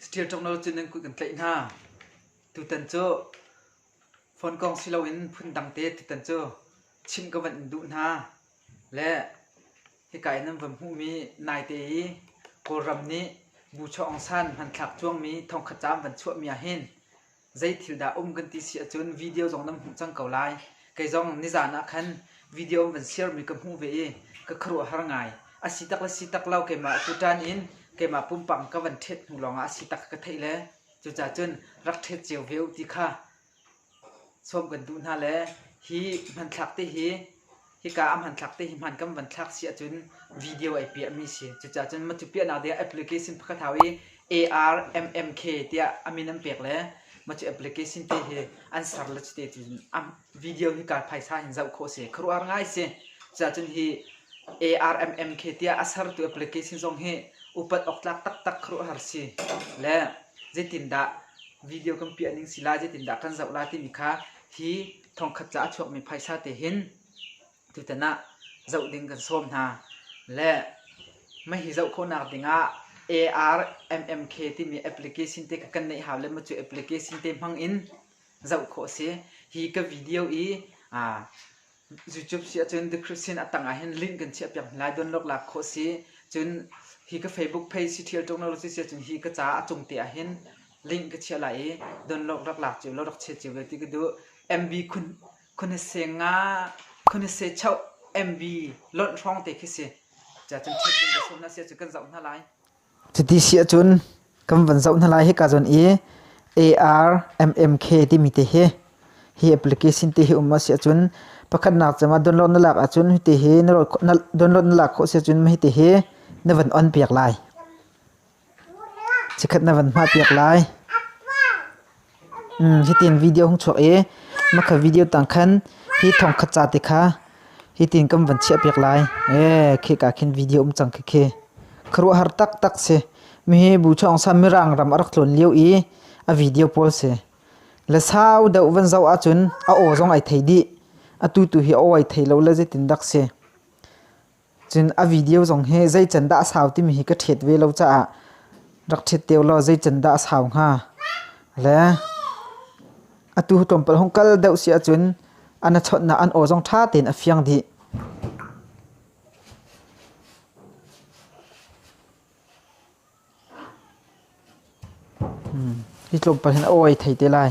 Saṭil ṭongno cu nan kut kan tlaih hna. Tutan cu fonkawng si loin phundang te tutan cu chimh ka van in duh hna. Le hika i nan van hmuhmi naite i Kawlram nih bu chuah awng san hmanthlak cuangmi thongkhat caam van chuahmi ahhin zei thil dah um kan ti si ahcun video zong nan hmuh cang ko lai. Kei zong nizaan ah khan video an van sharemi ka hmuh ve i ka khuaruah har ngai. A si tak le si tak lo keimah tutan in keimah pumpak ka van ṭhet hnu lawngah a si tak ka theih le cucaah cun rak ṭhet cio ve u ti kha sawm kan duh hna le hi hmanthlak te hi Hika a hmanthlak te hi hman kan van thlak si ahcun video ai piahmi si. Cucaah cun matu piahnak ding ah application pakhat hau i ARMMK tiah a min an pek le matu application te hi an ser le cu te tiin a video hi kaa phaisa in zoh khawh si. Khuaruah ngai si. Cucaah cun hi ARMMK tiah a sertu application zong hi upat awk tlak taktak khuaruahhar si. Le zeitindah video kan piah ning si lai, zeitindah kan zoh lai timi kha hi thongkhat ca a chuakmi phaisa te hin tutan ah zoh ding kan sawm hna. Le mah hi zoh khawhnak ding ah ARMMK timi application te ka kan neih hau le macu application te hmang in zoh khawh a si. Hi ka video i aa YouTube si ahcun description a tang ah hin link kan chiah piak lai download lak khawh si. Cun hi ka Facebook page si Thial Technology si ahcun hi ka ca a cung te ah hin link ka chiah lai i donlock rak lak cio lo rak che cio ti ka duh mb khun khun he se nga khun he se chau mb lonh hrawng te khi si cha chan ṭhet ding ka sum na sia cu kan zoh hna lai Cuti si ahcun kan van zoh hna lai hika zon i ARMMK timi te hi hi application te hi um a si ahcun pakhatnak cama download na lak ahcun hi te hi na download na lak khawh si ahcun ma hi te hi na van on piak lai Cikhat na van hngah piak lai. Hitin video hung chuak i makha video tang khan hi thongkhat ca te kha hitin kan van chiah piak lai. Khika khin video um cang khikhi. Khuaruahhar taktak si. Mihi Bu Chaung San Mirang ram a rak tlawn lio i a video pawl si. Le sau deuh van zoh ahcun a aw zong ai thei dih. Atu tu hi a aw ai thei lo le zeitindak si. Cun a video zong hi zei can dah a sau timi hi ka ṭhiet ve lo caah rak ṭhiet te ulaw zei can dah a sau hnga? Le atu tlawmpal hung kal deuh si ahcun an a chawnhnak an aw zong ṭha tein a fiang dih. Hi tluk paoh hin a aw ai thei te lai.